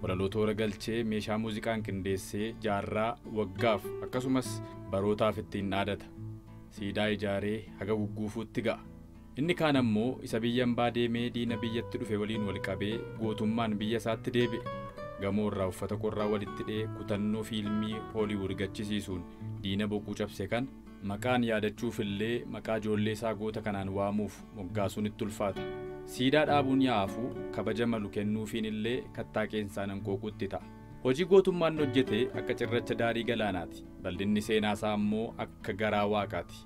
Walaloo toora galchee meeshaa muuziqaan qindeessee jaarraa, waggaaf akkasumas barootaaf ittiin dhaadata. Siidaa ijaaree haga gugguufuutti ga'a. Inni kaan ammoo isa biyya ambaa deemee diina biyyatti dhufe waliin wal qabee gootummaan biyya isaatti deebi'e. Gamoo irraa uffata qorraa walitti dhee kutannoo fiilmii Hooliwuud gachisiisuun diina boquu cabse kana, maqaan yaadachuufillee maqaa ijoollee isaa goota kanaan waamuuf moggaasuun itti ulfaata. Siidaa dhaabuun yaa hafuu kabaja malu kennuufiin illee kattaa qeensaan hanqooquu itti ta'a. Hojii gootummaa inni hojjete akka cirracha daarii galaanaati. Bal'inni seenaa isaa ammoo akka garaa waaqaati.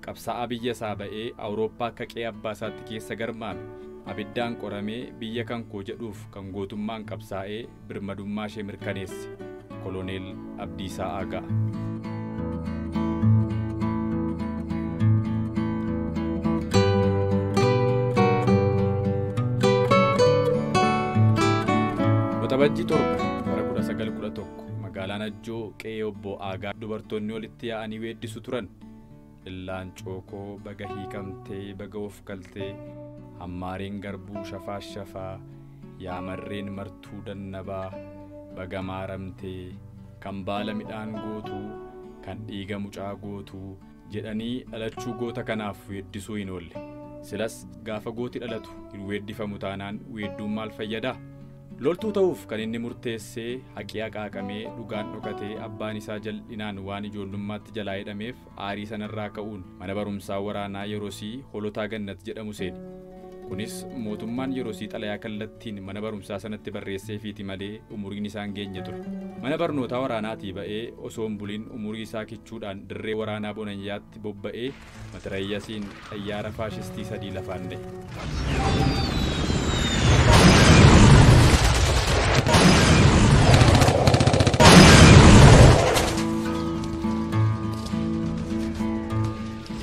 Qabsaa'aa biyya isaa ba'ee Awurooppaa akka qe'ee abbaa isaatti keessa garmaame. Abiddaan qoramee biyya kan koo jedhuuf kan gootummaan qabsaa'ee, birmadummaa ishee mirkaneesse Koloneel Abdiisaa Aagaa. Waxabajjii torba bara 1911 magaalaa Najjoo qe'ee obbo Aagaa dubartoonni walitti yaa'anii weeddisu turan. Laancoo koo baga hiikamtee baga of galtee Hammaareen garbuu shafaa shafaa Yaa marreen martuu dannabaa baga maaramtee Kan baala midhaan gootu kan dhiiga mucaa gootu jedhanii dhalachuu goota kanaaf weeddisuu hin oolle. Silas gaafa gooti dhalatu hin weeddifamu taanaan weedduun maal fayyadaa? Loltuu ta'uuf kan inni murteessee haqi haqaaqamee dhugaan dhokatee abbaan isaa jal'inaan waan ijoollummaatti jalaa hidhameef Aarii sanarraa ka'uun mana barumsaa waraanaa yerosii Holotaa Gannat jedhamu seene. Kunis mootummaan yerosii xalayaa kallattiin mana barumsaa sanatti barreesseefiiti malee umuriin isaa hin geenye ture. Mana barnootaa waraanaatii ba'ee osoo hin bulin umurii isaa kichuudhaan dirree waraanaa Bonanyaatti bobba'ee matirayyasiin Xayyaara faashistii sadii lafaan dhahe.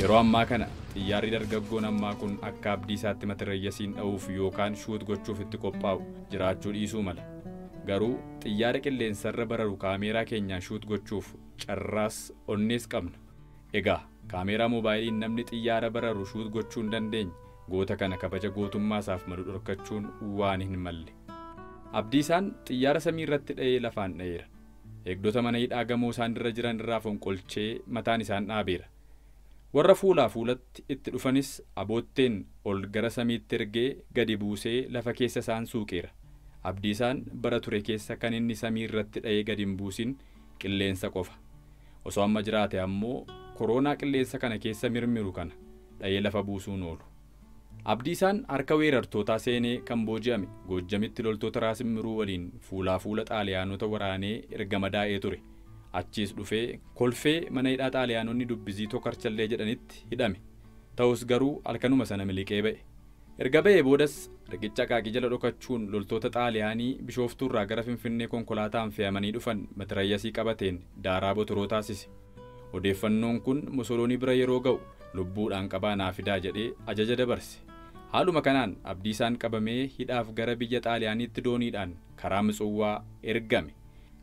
Yeroo ammaa kana xiyyaarri dargaggoon ammaa kun akka abdiisaatti matirayyasiin dha'uuf yookaan shuut gochuuf itti qophaa'u jiraachuu dhiisuu mala. Garuu xiyyaara qilleensarra bararu kaameeraa keenyaan shuut gochuuf carraas onnees qabna. Egaa kaameeraa moobaayiliin namni xiyyaara bararu shuut gochuu hin dandeenye goota kana kabaja gootummaa isaaf malu dhorkachuun waan hin malle. Abdiisaan xiyyaara samii irratti dha'ee lafaan dha'eera. Eegdota mana hidhaa gamoo isaan irra jiran irraa fonqolchee mataan isaan dhaabeera. Warra fuulaa fuulatti itti dhufanis abootteen ol gara samiitti ergee gadi buusee lafa keessa isaan suuqeera. Abdiisaan bara ture keessa kan inni samii irratti dha'ee gad hin buusin qilleensa qofa. Osoo amma jiraate ammoo koroonaa qilleensa kana keessa mirmiru kana dhayee lafa buusuu hin oolu. Abdiisaan harka weerartootaa seenee kan booji'ame Goojjamitti loltoota Raas Immiruu waliin fuulaa fuula Xaaliyaanota waraanee erga madaa'ee ture. Achiis dhufee Kolfee mana hidhaa Xaaliyaanonni Dubbizii Tokarchallee jedhanitti hidhame. Ta'us garuu halkanuma sana miliqee ba'e. Erga ba'ee boodas riqicha Aqaaqii jala dhokachuun loltoota Xaaliyaanii Bishooftuurraa gara Finfinnee konkolaataan fe'amanii dhufan matirayyasii qabateen daaraa Botoroo taasise. Odeeffannoon kun Mosoloonii bira yeroo ga'u lubbuudhaan qabaa naa fidaa jedhee ajaja dabarse. Haaluma kanaan Abdiisaan qabamee hidhaaf gara biyya Xaaliyaaniitti dooniidhaan karaa Mitsuwwaa ergame.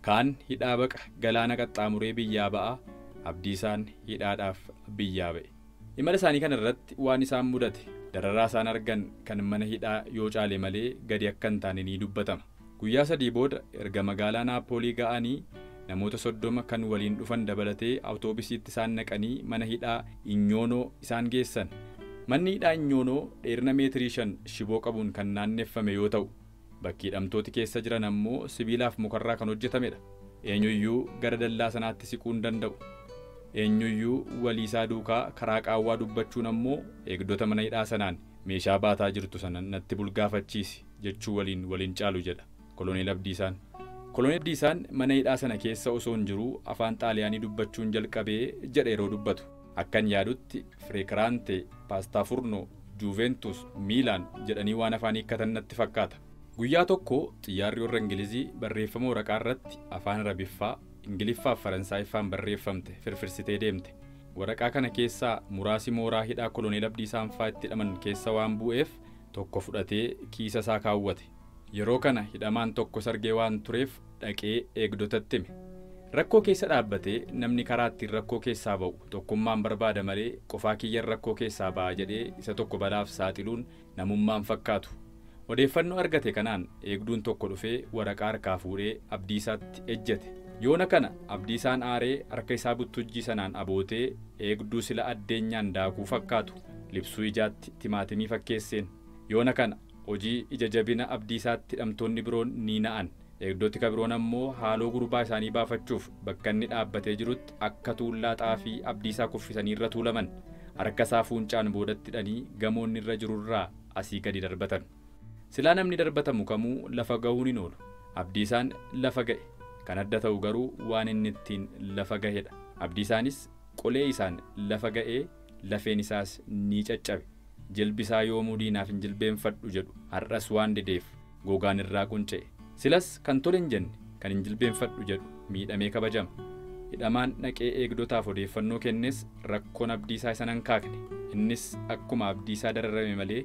Kaan hidhaa baqa galaana qaxxaamuree biyyaa ba'a, Abdiisaan hidhaadhaaf biyyaa ba'e. Imala isaanii kana irratti waan isaan mudate, dararaa isaan argan kan mana hidhaa yoo caale malee gadi akka hin taane ni dubbatama. Guyyaa sadii booda erga magaalaa Naappoolii ga'anii namoota 30 kan waliin dhufan dabalatee awutoobisiitti isaan naqanii mana hidhaa Inyoonoo isaan geessan. Manni hidhaa Inyoonoo dheerina meetirii shan shiboo qabuun kan naanneffame yoo ta'u, Bakki hidhamtooti keessa jiran ammoo sibiilaaf mukarraa kan hojjetamedha. Eenyuyyuu gara dallaa sanaatti siquu hin danda'u. Eenyuyyuu waliisaa duukaa karaa qaawwaa dubbachuun ammoo eegdota mana hidhaa sanaan meeshaa baataa jirtu sana natti bulgaafachiisi jechuu waliin wal hin caalu jedha Koloneel Abdiisaan. Koloneel Abdiisaan mana hidhaa sana keessa osoon jiruu afaan Xaaliyaanii dubbachuun jalqabe jedha yeroo dubbatu. Akkan yaadutti Fireekiraante, Paastaa Furno, Juuveentus, Miilaan jedhanii waan afaan hiikkatan natti fakkaata. Guyyaa tokko xiyyaarri warra Ingilizii barreeffama waraqaa irratti afaan Arabiffaa, Ingiliffaa fi Faransaayiffaan barreeffamte firfirsitee deemte. Waraqaa kana keessaa muraasi mooraa hidhaa Koloneel Abdiisaan faa itti hidhaman keessa waan buu'eef tokko fudhatee kiisa isaa kaawwate. Yeroo kana hidhamaan tokko sargee waan tureef dhaqee eegdotatti hime. Rakkoo keessa dhaabbatee namni karaa ittiin rakkoo keessaa ba'u tokkummaan barbaada malee qofaa kiyyan rakkoo keessaa ba'a jedhee isa tokko balaaf saaxiluun namummaa hin fakkaatu. Odeeffannoo argate kanaan eegduun tokko dhufee waraqaa harkaa fuudhee Abdiisaatti ejjete. Yoona kana Abdiisaan aaree harka isaa buttujjii sanaan abootee eegduu sila addeenyaan daakuu fakkaatu libsuu ijaatti timaatimii fakkeesseen. Yoona kana Hojii ija jabina Abdiisaatti hidhamtoonni biroon ni na'an. Eegdoti ka biroon ammoo haaloo gurbaa isaanii baafachuuf bakka inni dhaabbatee jirutti akka tuullaa xaafii Abdiisaa kuffisanii irra tuulaman. Harka isaa fuuncaan boodatti hidhanii gamoo inni irra jiru irraa asii gadi darbatan. Silaa namni darbatamu kamuu lafa gahuun hin oolu. Abdiisaan lafa gahe. Kan adda ta'u garuu waan inni ittiin lafa gahedha. Abdiisaanis qolee isaan lafa ga'ee lafeen isaas ni caccabe. Jilbi isaa yoomuu diinaaf hin jilbeenfadhu jedhu har'as waan dideef gogaan irraa qunca'e. Silas kan tole hin jenne kan hin jilbeenfadhu jedhu miidhamee kabajama. Hidhamaan dhaqee eegdotaaf odeeffannoo kennes rakkoon Abdiisaa isa hin hankaakne. Innis akkuma Abdiisaa dararame malee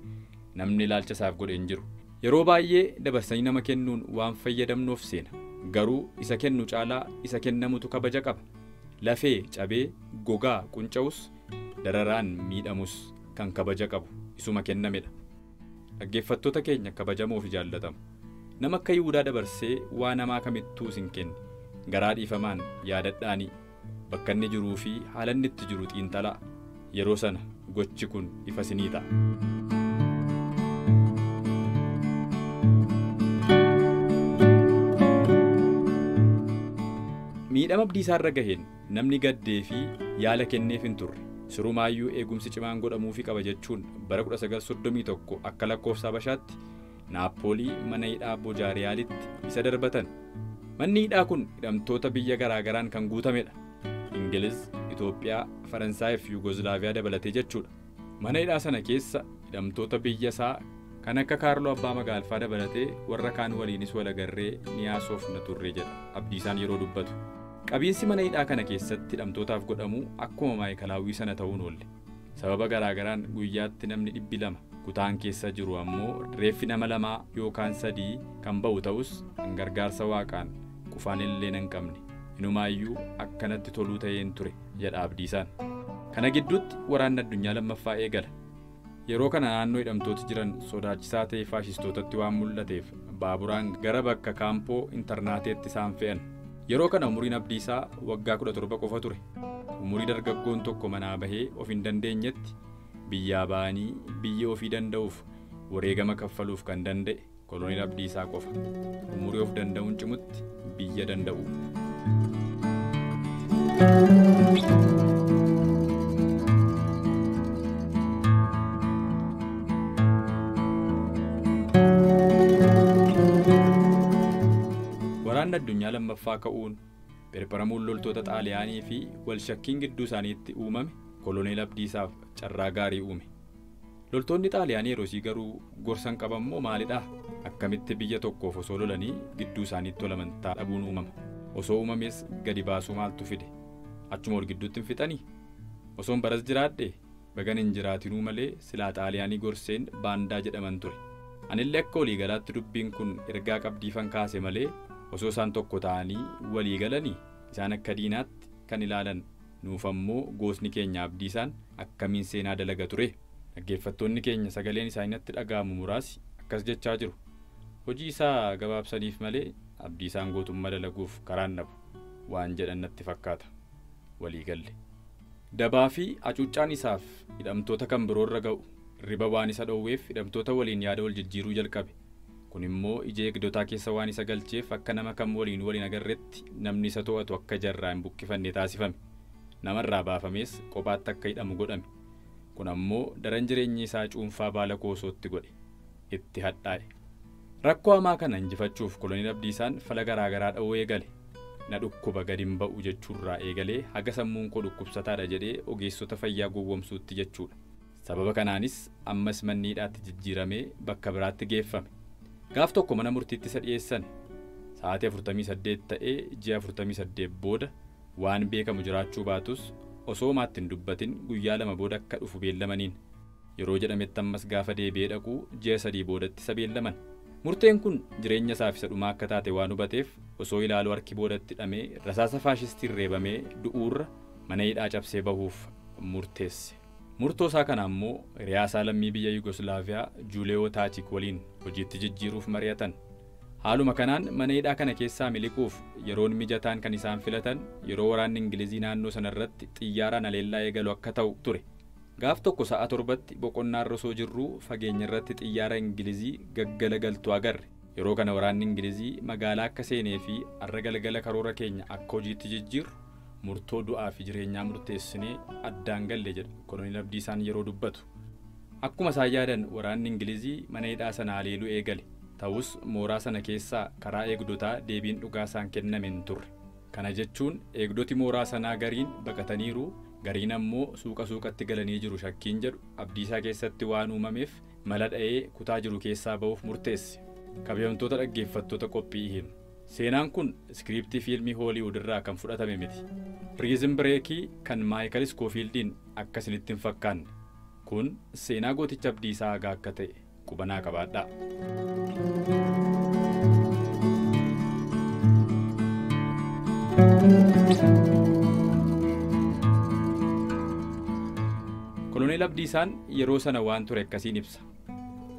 namni ilaalcha isaaf godhe hin jiru. Yeroo baay'ee dabarsanii nama kennuun waan fayyadamnu of seena. Garuu isa kennu caalaa isa kennamutu kabaja qaba. Lafee cabee gogaa qunca'us dararaan miidhamus kan kabaja qabu isuma kennamedha. Dhaggeeffattoota keenya kabajamoo fi jaallatamu! Nama akka Yihudaa dabarsee waa namaa kamittuu isin kenne garaa dhiifamaan yaadadhaanii bakka inni jiruu fi haala inni itti jiru xiinxalaa. Yeroo sana gochi kun ifa isinii ta'a. Miidhama Abdiisaarra gaheen. Namni gaddee fi yaala kenneef hin turre. Sirumaayyuu eegumsi cimaan godhamuufi qaba jechuun bara 1931 akka lakkoofsa Habashaatti Naappoolii mana hidhaa Bojaariyaalitti isa darbatan. Manni hidhaa kun hidhamtoota biyya garaa garaan kan guutamedha. Ingiliz, Itoophiyaa, Faransaayii fi Yuugozlaaviyaa dabalatee jechuudha. Mana hidhaa sana keessa hidhamtoota biyya isaa kan akka Kaarloo Abbaa Magaalfaa dabalatee warra kaan waliinis wal agarree ni haasofna turre jedha Abdiisaan yeroo dubbatu. Qabiinsi mana hidhaa kana keessatti hidhamtootaaf godhamu akkuma Maa'ikalaawwii sana ta'uu hin oolle. Sababa garaa garaan guyyaatti namni dhibbi lama kutaan keessa jiru ammoo reeffi nama lamaa yookaan sadii kan ba'u ta'us an gargaarsa Waaqaan qufaan illeenan qabne. Inumaayyuu akka natti toluu ta'een ture. jedha Abdiisaan. Kana gidduutti Waraanni Addunyaa Lammaffaa eegala. Yeroo kana naannoo hidhamtooti jiran sodaachisaa ta'ee faashistootatti waan mul'ateef baaburaan gara bakka Kaampoo Intarnaateetti isaan fe'an. Yeroo kana umuriin Abdiisaa waggaa 17 qofa ture. Umurii dargaggoon tokko manaa bahee of hin dandeenyetti biyyaa ba'anii biyya ofii danda'uuf wareegama kaffaluuf kan danda'e. Koloneel Abdiisaa qofa umurii of danda'uun cimutti biyya danda'u. Waraanni addunyaa lammaffaa ka'uun pherpheramuun loltoota Xaaliyaanii fi wal shakkiin gidduu isaaniitti uumame koloneel Abdiisaaf carraa gaarii uume. Loltoonni Xaaliyaanii yerosii garuu gorsan qaban moo maalidhaa? Akkamitti biyya tokkoof osoo lolanii gidduu isaaniitti wal amantaa dhabuun uumama? Osoo uumamees gadi baasuu maaltu fide? Achuma wal gidduutti hin fixanii? Osoon baras jiraadhee? Bagan hin jiraatinuu malee silaa Xaaliyaanii gorseen baandaa jedhaman ture. Anillee akka walii galaatti dubbiin kun ergaa qabdiifan kaase malee osoo isaan tokko ta'anii walii galanii isaan akka diinaatti kan ilaalan Nuuf ammoo gootni keenya Abdiisaan akkamiin seenaa dalaga ture? Dhaggeeffattoonni keenya sagaleen isaanii natti dhaga'amu muraasi akkas jechaa jiru, Hojii isaa gabaabsaniif malee Abdiisaan gootummaa dalaguuf karaa hin dhabu waan jedhan natti fakkaata. Walii galle. Dabaa fi hacuuccaan isaaf hidhamtoota kan biroo irra ga'u hirriba waan isa dhowweef hidhamtoota waliin yaada wal jijjiiruu jalqabe. Kun immoo ija eegdotaa keessa waan isa galcheef akka nama kam waliin wal hin agarretti namni isa to'atu akka ija irraa hin buqqifanne taasifame. Nama irraa baafamees qophaatti akka hidhamu godhame. Kun ammoo daran jireenyi isaa cuunfaa baala koosootti godhe. Itti hadhaa'e. Rakkoo hamaa kana injifachuuf Koloneel Abdiisaan fala garaa garaa dha'uu eegale. Na dhukkuba gad hin ba'u jechuurraa eegalee haga sammuun koo dhukkubsataadha jedhee ogeessota fayyaa gowwomsuutti jechuudha. Sababa kanaanis ammas manni hidhaatti jijjiiramee bakka biraatti geeffame. Gaaf tokko mana murtiitti isa dhiyeessani. Sa'aatii 48 ta'ee ji'a 48 booda waan beekamu jiraachuu baatus osoo homaatti hin dubbatin guyyaa lama booda akka dhufu beellamaniin. Yeroo jedhametti ammas gaafa deebi'ee dhaqu ji'a sadii boodatti isa beellaman. Murteen kun jireenya isaaf isa dhumaa akka taate waan hubateef osoo ilaaluu harki boodatti hidhamee rasaasa faashistiin reebamee du'uurra mana hidhaa cabsee bahuuf murteesse. Murtoo isaa kana ammoo hiriyaa isaa lammii biyya Yugoslaaviyaa Juuleewoo Taachiik waliin hojiitti jijjiiruuf mari'atan. Haaluma kanaan mana hidhaa kana keessaa miliquuf yeroon mijataan kan isaan filatan yeroo waraanni Ingilizii naannoo sana irratti xiyyaaraan haleellaa eegalu akka ta'u ture. Gaaf tokko sa'a torbatti boqonnaarra osoo jirruu fageenyarratti xiyyaara Ingilizii gaggalagaltu agarre. Yeroo kana waraanni Ingilizii magaalaa akka seenee fi har'a galgala karoora keenya akka hojiitti jijjiirru murtoo du'aa fi jireenyaa murteessinee addaan galle jedha Koloneel Abdiisaan yeroo dubbatu. Akkuma isaan yaadan waraanni Ingilizii mana hidhaa sana haleeluu eegale. Ta'us mooraa sana keessaa karaa eegdotaa deebiin dhugaa isaan kenname hin turre. Kana jechuun eegdoti mooraa sanaa gariin baqataniiru, gariin ammoo suuqa suuqatti galanii jiru shakkiin jedhu Abdiisaa keessatti waan uumameef Mala dha'ee kutaa jiru keessaa ba'uuf murteessi. Kabajamtoota dhaggeeffattoota qophii ihiim. Seenaan kun iskiriiptii fiilmii Hooliiwud irraa kan fudhatame miti. Piriizin Bireekii kan Maayikal Iskoofiildiin akka isinitti hin fakkaanne. Kun seenaa gooticha Abdiisaa Agaa akka ta'e quba naa qabaadhaa. Koloneel Abdiisaan yeroo sana waan ture akkasiin ibsa.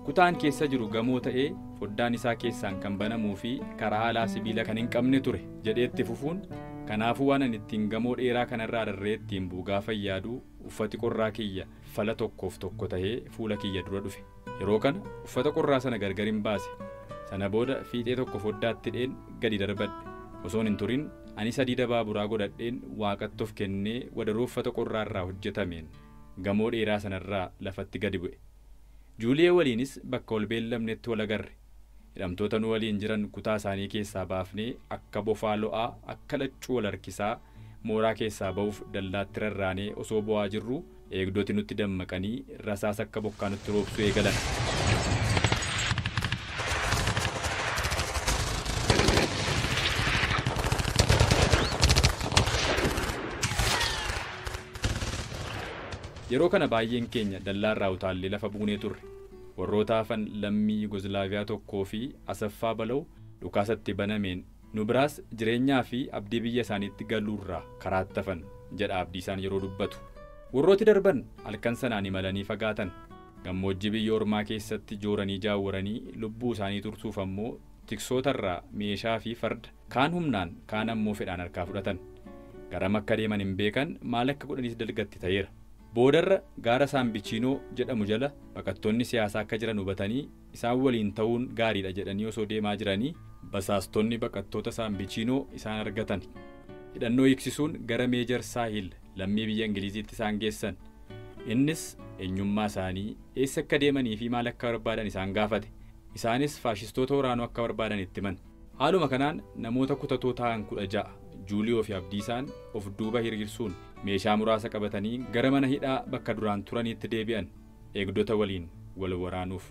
Kutaan keessa jiru gamoo ta'ee foddaan isaa keessaan kan banamuu fi karaa alaa sibiila kan hin qabne ture, jedhee itti fufuun, kanaafuu waan ani ittiin gamoo dheeraa kana irraa rarra'ee ittiin bu'u gaafan yaadu uffati qorraa kiyya fala tokkoof tokko ta'ee fuula kiyya dura dhufe. Yeroo kana uffata qorraa sana gargarin baase. Sana booda fiixee tokko foddaatti hidheen gadi darbadhe. Osoon hin turin anis hadiida baaburaa godhadheen Waaqatti of kennee wadaroo uffata qorraa irraa hojjetameen gamoo dheeraa sana irraa lafatti gadi bu'e. Juuliyee waliinis bakka wal beellamnetti wal agarre. Hidhamtoota nu waliin jiran kutaa isaanii keessaa baafnee akka bofaa lo'aa, akka laccuu wal harkisaa mooraa keessaa ba'uuf dallaatti rarraanee osoo bo'aa jirruu eegdoti nutti dammaqanii rasaasa akka bokkaa nutti roobsuu eegalan. Yeroo kana baay'een keenya dallaa irraa utaallee lafa buunee turre. Warroota hafan lammii Yugoozilaaviyaa tokkoo fi Asaffaa Balaw dhukaasa itti banameen nu biraas jireenyaa fi abdii biyya isaaniitti galuu irraa karaatti hafan, jedha Abdiisaan yeroo dubbatu. Warrooti darban halkan sanaan imalanii fagaatan. Gammoojjii biyya ormaa keessatti jooranii jaawwaranii lubbuu isaanii tursuuf ammoo tiksoota irraa meeshaa fi farda Kaan humnaan, kaan ammoo fedhaan harkaa fudhatan. Garam akka deeman hin beekan, maal akka godhanis dalgatti ta'eera. Boodarra gaara Saambichiinoo jedhamu jala baqattoonni siyaasaa akka jiran hubatanii isaan waliin ta'uun gaariidha jedhanii osoo deemaa jiranii basaastonni baqattoota Saambichiinoo isaan argatan. Hidhannoo hiiksisuun gara Meejar Saahil lammii biyya Ingiliiziitti isaan geessan. Innis eenyummaa isaanii, eessa akka deemaniifi maal akka barbaadan isaan gaafate. Isaanis faashistoota waraanuu akka barbaadan itti himan. Haaluma kanaan namoota kutatoo ta'an 16 Juuliyoo fi Abdiisaan of duuba hiriirsuun meeshaa muraasa qabatanii gara mana hidhaa bakka duraan turaniitti deebi'an eegdota waliin wal waraanuuf.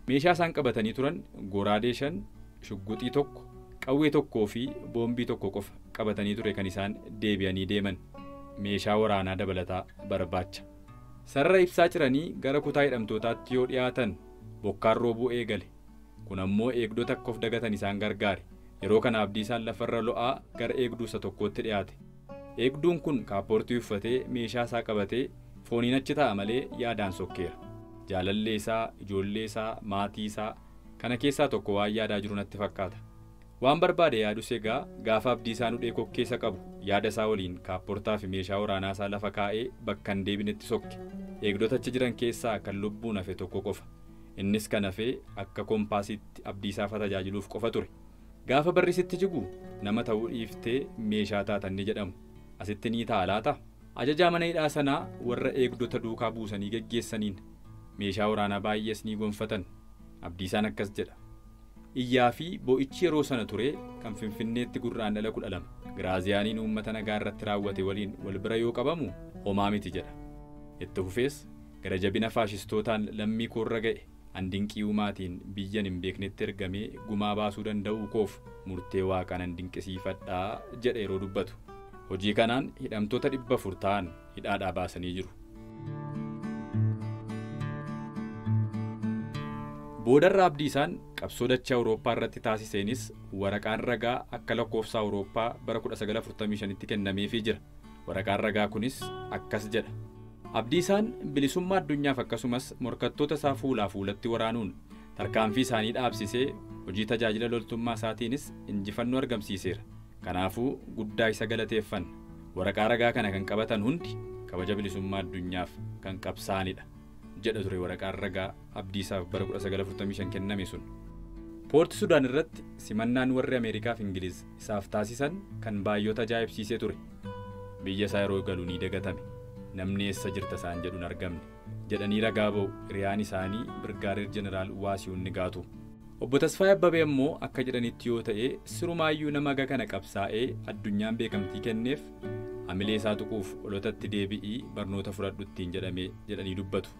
Meeshaa isaan qabatanii turan goraadee 5, shugguxii 1, qawwee 1 fi boombii 1 qofa qabatanii ture kan isaan deebi'anii deeman. Meeshaa waraanaa dabalataa barbaacha. Sarara ibsaa ciranii gara kutaa hidhamtootaatti yoo dhiyaatan bokkaan roobuu eegale. Kun ammoo eegdota akka of dagatan isaan gargaare. Yeroo kana Abdiisaan lafarra lo'aa gara eegduu isa tokkootti dhiyaate. Eegduun kun kaappoortii uffatee, meeshaa isaa qabatee, fooniin achi taa'a malee yaadaan sokkeera. Jaalallee isaa, ijoollee isaa, maatii isaa, kana keessaa tokko waan yaadaa jiru natti fakkaata. Waan barbaade yaadus egaa gaafa Abdiisaan hudhee kokkee isa qabu yaada isaa waliin kaapportaa fi meeshaa waraanaa isaa lafa kaa'ee bakka hin deebinetti sokke. Eegdota achi jiran keessaa kan lubbuun hafe tokko qofa. Innis kan hafe akka kompaasiitti Abdiisaafa tajaajiluuf qofa ture. Gaafa barri sitti jigu nama ta'uu dhiiftee meeshaa taata inni jedhamu asitti ni ta'a laata? Ajajaa mana hidhaa sanaa warra eegdota duukaa buusanii geggeessaniin meeshaa waraanaa baay'ees ni gonfatan. Abdiisaan akkas jedha, Iyyaa fi boo'ichi yeroo sana ture kan Finfinneetti Gurraandhala 12 Giraaziyaaniin uummata nagaa irratti raawwate waliin wal bira yoo qabamu homaa miti jedha. Itti fufees, Gara jabina faashistootaan lammii koo irra ga'e, an dinqii Uumaatiin biyyan hin beeknetti ergamee gumaa baasuu danda'uu koof murtee Waaqaa nan dinqisiifadha, jedha yeroo dubbatu. Hojii kanaan hidhamtoota 400 ta'an hidhaadhaa baasanii jiru. Boodarra Abdiisaan qabsoo dachee Awurooppaa irratti taasiseenis waraqaan ragaa akka lakkoofsa Awurooppaa bara 1945tti kennameefii jira. Waraqaan ragaa kunis akkas jedha. Abdiisaan bilisummaa addunyaaf akkasumas morkattoota isaa fuulaa fuulatti waraanuun tarkaanfii isaanii dhaabsisee hojii tajaajila loltummaa isaatiinis injifannoo argamsiiseera. Kanaafuu guddaa isa galateeffanna. Waraqaa ragaa kana kan qabatan hundi kabaja bilisummaa addunyaaf kan qabsaa'anidha, jedha ture waraqaan ragaa Abdiisaaf bara 1945 kenname sun. Poorti Sudaan irratti simannaan warri Ameerikaa fi Ingiliz isaaf taasisan kan baay'ota ajaa'ibsiise ture. Biyya isaa yeroo galu ni dagatame. Namni eessa jirta isaan jedhu hin argamne. jedhanii ragaa ba'u hiriyaan isaanii Birgaadeer Jeneraal Waasihun Nigaatuu. Obbo Tasfaayee Abbabee ammoo akka jedhanitti yoo ta'e sirumaayyuu nama haga kana qabsaa'ee addunyaan beekamtii kenneef hamilee isaa tuquuf olotatti deebi'ii barnoota fudhadhu ittiin jedhame jedhanii dubbatu.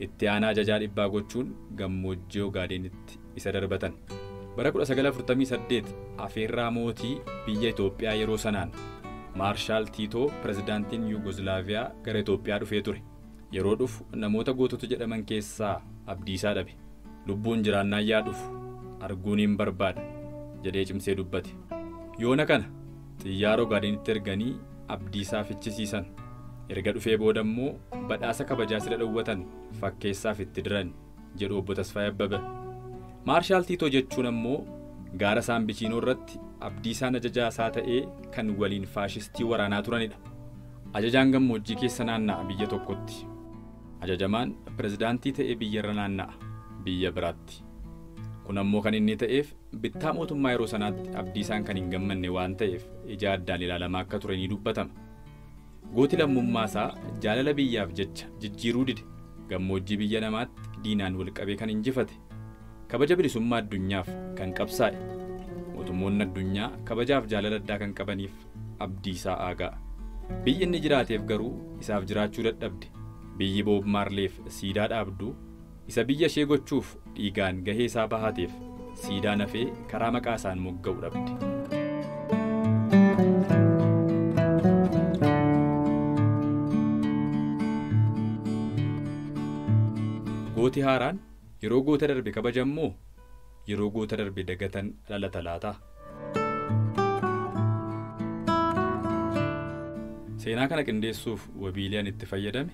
Itti aanaa ajajaa dhibbaa gochuun gammoojjii Ogaadeenitti isa darbatan. Bara 1948 afeerraa mootii biyya Itoophiyaa yeroo sanaan, Maarshaal Tiitoo pirezidaantiin Yuugozlaaviyaa gara Itoophiyaa dhufee ture. Yeroo dhufu namoota gootota jedhaman keessaa Abdiisaa dhabe. Lubbuun jiraannaan yaa dhufu arguuniin barbaada, jedhee cimsee dubbate. Yoona kana Xiyyaara Ogaadenitti erganii Abdiisaa fichisiisan. Erga dhufee booda immoo badhaasa kabajaa sila dhowwatan fakkeessaaf itti diran, jedhu Obbo Tasfaayee Abbabah. Maarshaal Tiitoo jechuun ammoo gaara Saambichiinoo irratti Abdiisaan ajajaa isaa ta'ee kan waliin faashistii waraanaa turanidha. Ajajaan gammoojjii keessa naanna'a biyya tokkotti. Ajajamaan pirezidaantii ta'ee biyyarra naanna'a biyya biraatti. Kun ammoo kan inni ta'eef bittaa mootummaa yeroo sanaatti Abdiisaan kan hin gammanne waan ta'eef ija addaan ilaalamaa akka ture ni dubbatama. Gooti lammummaa isaa jaalala biyyaaf jecha jijjiiruu dide gammoojjii biyya namaatti diinaan wal qabee kan injifate, kabaja bilisummaa addunyaaf kan qabsaa'e, mootummoonni addunyaa kabajaaf jaalala addaa kan qabaniif Abdiisaa Aagaa. Biyyi inni jiraateef garuu isaaf jiraachuu dadhabde. Biyyi Boob Maarleef siidaa dhaabdu, Isa biyya ishee gochuuf dhiigaan gahee isaa bahateef siidaan hafee karaa maqaa isaan mogga'u dhabde. Gooti haaraan yeroo goota darbe kabajan moo yeroo goota darbe dagatan dhalata laata? Seenaa kana qindeessuuf wabiilee ani itti fayyadame